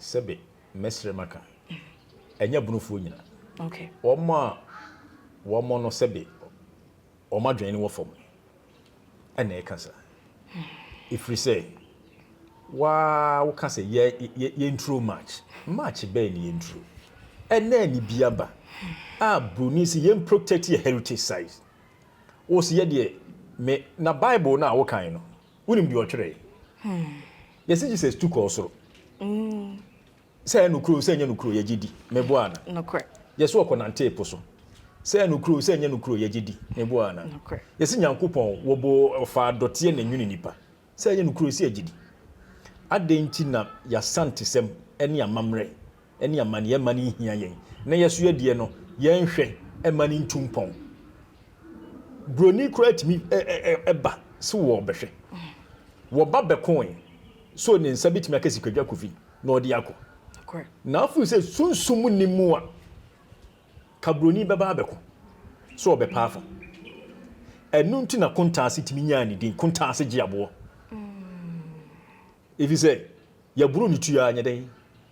Sɛbe, mɛsrɛ maka, ɛnyɛ abonofoɔ nyina. Wɔn a wɔn no sɛbe wɔn adwene no wɔ fam ɛna ɛka saa. Ɛfiri sɛ waa woka sɛ yɛnturo March. March bɛn ne yɛnturo? Ɛnɛ ne bi aba a Buroni sɛ yɛn protect yɛ heritage sites. Wo sɛ yɛdeɛ me na Bible no a wokan no Wonim deɛ ɔtwerɛɛ? Yɛse Jesus tu kɔɔ soro. Sɛ ɛyɛ nokorɛ o, sɛ ɛnyɛ nokorɛ o, yɛgye di. Meboa ana? Nokorɛ. Yɛse ɔkɔnantee po so. Sɛ ɛyɛ nokorɛ o, sɛ ɛnyɛ nokorɛ o, yɛgye di. Meboa ana? Nokorɛ. Yɛse Nyankopɔn wɔbɔɔ, ɔfaa dɔteɛ na ɛnwonii nnipa. Sɛ ɛyɛ nokorɛ o, sɛ yɛgye di. Adɛn nti na yɛasantesɛm ne amammerɛ ne amanneɛ mma no nhia yɛn, na yɛn nso yɛn deɛ no, yɛnhwɛ mma no ntu mpɔn. Buroni koraa tumi ba sɛ wɔrebɛhwɛ. Wɔba bɛkoe, so ne nsa bɛtumi aka Sikadwa Kofi na ɔde akɔ? Na afei sɛ sunsum nni mu a, ka buroni bɛba abɛko sɛ ɔbɛpa afa. Ɛno nti na Kontaase tumi nyaa ne din, Kontaase gye aboɔ. Ɛfiri sɛ, yɛboro ne tuo ara, nyɛ dɛn?